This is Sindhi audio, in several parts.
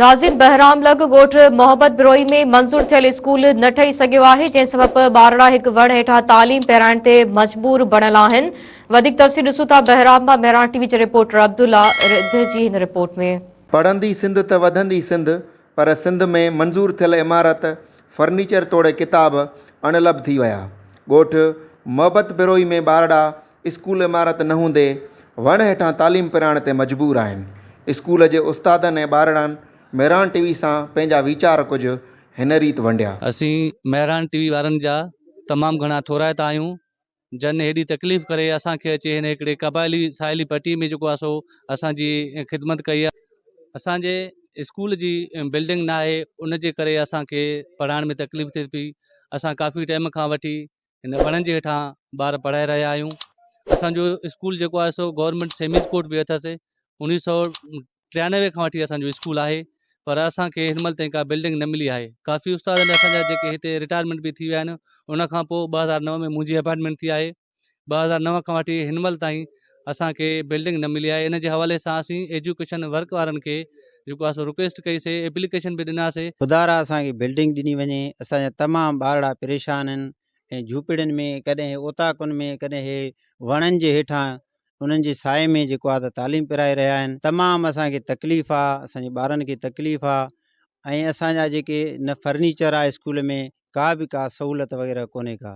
ناظم بهرام لڳ ڳوٺ محبت بروهي ۾ منظور ٿيل اسڪول نه ٺهي سگهيو آهي جنهن سبب ٻارڙا هڪ وڻ هيٺان تعليم پيرائڻ تي مجبور بڻيل آهن وڌيڪ تفصيل ڏسون ٿا بهرام مان مهراڻ ٽي وي جي رپورٽر عبدالله رڌ جي هن رپورٽ ۾. پڙهندي سنڌ ته وڌندي سنڌ پر سنڌ ۾ منظور ٿيل عمارت فرنيچر توڙي ڪتاب اڻ لڀ ٿي ويا ڳوٺ محبت بروهي ۾ ٻارڙا اسڪول عمارت نه هوندي وڻ هيٺان تعليم پراڻ تي مجبور آهن. اسڪول جي استادن ۽ ٻارڙن مهراڻ ٽي وي سان پنهنجا ويچار ڪجهه هن ريت ونڊيا. اسين مهراڻ ٽي وي وارن جا تمام گهڻا ٿورائتا آهيون جن هيڏي تڪليف ڪري اسان کي اچي هن هڪڙي قبائلي ساحلي پٽي ۾ جيڪو آهي سو اسان جي خدمت ڪئي آهي. اسان جي اسڪول جي بلڊنگ ناهي ان جي ڪري اسان کي پڙهائڻ ۾ تڪليف ٿئي پئي. اسان ڪافي ٽيم کان وٺي هن وڻن جي هيٺان ٻار پڙهائي رهيا آهيون اسانجو اسڪول جيڪو آهي سو گورمينٽ سيمي اسڪول به اٿس انيس سو ٽيانوي کان وٺي اسانجو اسڪول آهي پر اسانکي هن مهل تائين ڪا بلڊنگ نه ملي آهي ڪافي استاد اسانجا جيڪي هتي رٽائرمينٽ به ٿي ويا آهن ان کان پوء ٻه هزار نو ۾ منهنجي اپائنٽمينٽ ٿي آهي ٻه هزار نو کان وٺي هن مهل تائين اسان کي بلڊنگ نه ملي آهي ان جي حوالي سان اسين ايجوڪيشن ورڪ وارن کي جيڪو آهي سو رڪويسٽ ڪئي سي ايپليڪيشن به ڏنا سي. خدا را اسان کي بلڊنگ ڏني وڃي اسان جا تمام ٻارڙا پريشان آهن ۽ جهوپڙين ۾ ڪڏهن هي اوطاقن ۾ ڪڏهن هي وڻن جي هيٺان انهن جي سائي ۾ جيڪو آهي ته تعليم پرائي رهيا آهن تمام اسان کي تڪليف آهي اسان جي ٻارن کي تڪليف آهي ۽ اسان جا جيڪي نه فرنيچر آهي اسڪول ۾ ڪا به ڪا سهولت وغيره ڪونهي ڪا.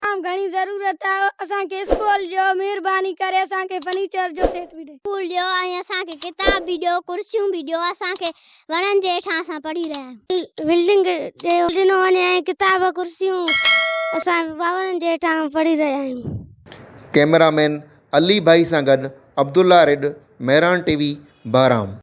تمام گهڻي ضرورت آ اسان کي اسڪول جو مهرباني ڪري اسان کي فرنيچر جو سيٽ به ڏئي. اسڪول ڏيو ۽ اسان کي ڪتاب به ڏيو ڪرسيون به ڏيو اسان کي وڻن جي هيٺان اسان پڙهي رهيا آهيون. بلڊنگ ڏيو ڏنو وڃي ۽ ڪتاب ڪرسيون اسان باورن جي هيٺان پڙهي رهيا آهيون. ڪئميرا مين علي ڀائي سان گڏ عبدالله ريڊ مهراڻ ٽي وي بهرام.